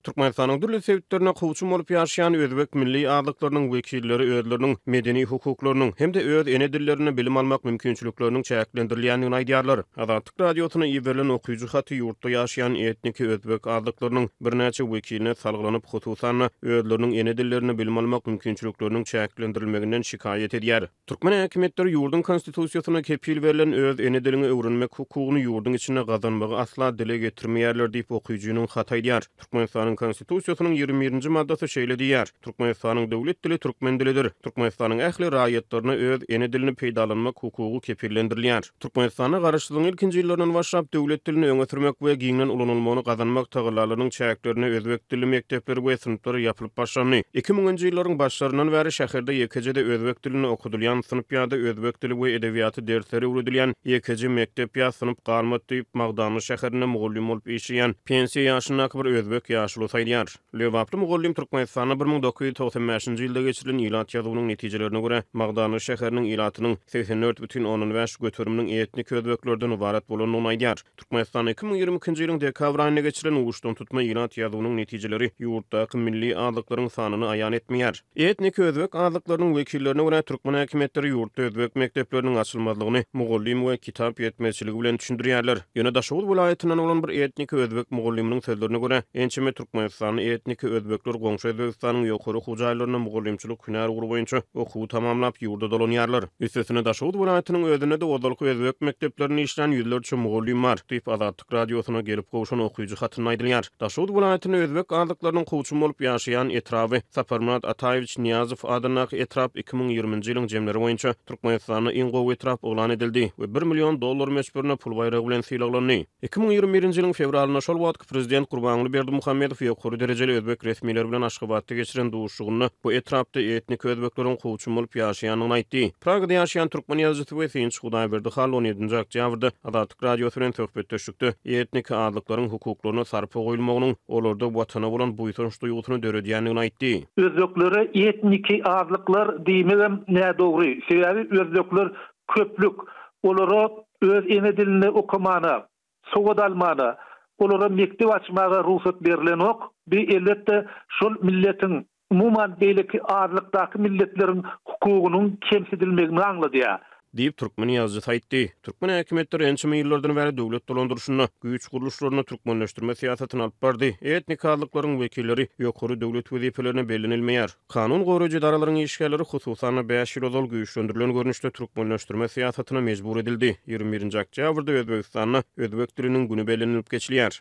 Türkmenistanyň dürli sebitlerinde kowçum bolup ýaşaýan özbek milli azlyklarynyň wekilleri özleriniň medeni hukuklarynyň hem-de öz ene dillerinde bilim almak mümkinçilikleriniň çäklendirilýändigini aýdýarlar. Azatlyk Radiosyna iberilen okyjy haty ýurtda ýaşaýan etniki özbek azlyklarynyň birnäçe wekiline salgylanyp, hususan-da, özleriniň ene dillerinde bilim almak mümkinçilikleriniň çäklendirilmeginden şikaýat edýär. Türkmen häkimiýetleri ýurduň Konstitusiýasynda kepil berlen öz ene dilini öwrenmek hukugyny ýurduň içinde gazanmagy asla dile getirmeýärler diýip, okyjynyň haty aýdýar. Türkmenistanyň Konstitusiýasynyň ýigrimi birinji maddasy şeýle diýýär, Türkmenistanyň döwlet dili türkmen dilidir. Türkmenistanyň ähli raýatlaryna öz ene dilini peýdalanmak hukugy kepillendirilýär. Türkmenistanda garaşsyzlygyň ilkinji ýyllaryndan başlap döwlet dilini öňe sürmek we giňden ulanylmagyny gazanmak tagallalarynyň çäklerinde özbek dilli mekdepler we synplar ýapylyp başlandy. Iki müňünji ýyllaryň başlaryndan bäri şäherde ýekeje-de özbek dilinde okadylýan synp ýa-da özbek dili we edebiýaty dersleri öwredilýän ýekeje mekdep ýa synp galmady diýip, Magdanly şäherinde mugallym bolup işleýän pensiýa ýaşyndaky bir özbek ýaşulusy aýdýar. Lebaply mugallym Türkmenistanda bir müň dokuz ýüz togsan bäşinji ýylda geçirilen ilat ýazuwynyň netijelerine görä, Magdanly şäheriniň ilatynyň segsen dört bütin ondan bäş göteriminiň etnik özbeklerden ybarat bolandygyny aýdýar. Türkmenistanda iki müň ýigrimi ikinji ýylyň dekabr aýynda geçirilen uçdantutma ilat ýazuwynyň netijeleri ýurtdaky milli azlyklaryň sanyny aýan etmeýär. Etnik özbek azlyklarynyň wekillerine görä, türkmen häkimiýetleri ýurtda özbek mekdepleriniň açylmazlygyny mugallym we kitap ýetmezçiligi bilen düşündirýärler. Ýöne Daşoguz welaýatyndan bolan bir etnik özbek mugallymynyň sözlerine görä, ençeme türkmenistanly etnik özbekler goňşy Özbegistanyň ýokary okuw jaýlarynda mugallymçylyk hünär ugry boýunça okuwy tamamlap, ýurda dolanýarlar. Üstesine, Daşoguz welaýatynyň özünde-de ozalky özbek mekdeplerinde işlän ýüzlerçe mugallym bar, diýip, Azatlyk. Azatlyk Radiosyna gelip gowşan okyjy hatynda aýdylýar. Daşoguz welaýatyny özbek azlyklarynyň kowçumy bolup ýaşaýan etraby, Saparmyrat Ataýewiç Nyýazow adyndaky etrap iki müň ýigriminji ýylyň jemleri boýunça Türkmenistanda iň gowy etrap yglan edildi we bir million dollar möçberinde pul baýragy bilen sylaglandy. Iki müň ýigrimi birinji ýylyň fewralynda şol wagtky prezident Gurbanguly Berdimuhamedow ýokary derejeli özbek resmileri bilen Aşgabatda geçiren duşuşygynda bu etrapda etnik özbekleriň kowçumy bolup ýaşaýandygyny aýtdy. Pragada ýaşaýan türkmen ýazyjysy we synçy Hudaýberdi Hall on ýedinji oktýabrda Azatlyk Azatlyk Radiosy bilen söhbetdeşlikde etniki azlyklaryň hukuklaryna sarpa goýulmagynyň olarda Watana bolan buýsanç duýgusyny döredýändigini aýtdy. Özbeklere etniki azlyklar diýmegem nädogry, sebäbi özbekler köplük, olara öz ene dilinde okamana, sowat almana, olara mekdep açmaga rugsat berilenok, bi elbetde şol milletiň umuman, beýleki azlykdaky milletleriň hukugynyň kemsidilmegini aňladýar. Diýip, türkmen ýazyjysy aýtdy. Türkmen häkimiýetleri ençeme ýyllardan bäri döwlet dolandyryşynda, güýç gurluşlarynda türkmenleşdirme syýasatyny alyp bardy. Etnik azlyklaryň wekilleri ýokary döwlet wezipelerine bellenilmeýär. Kanun goraýjy edaralaryň işgärleri, hususan-da, bäş ýyl ozal güýçlendirilen görnüşde türkmenleşdirme syýasatyna mejbur edildi. Ýigrimi birinji oktýabrda Özbegistanda Özbek diliniň güni bellenilip geçilýär.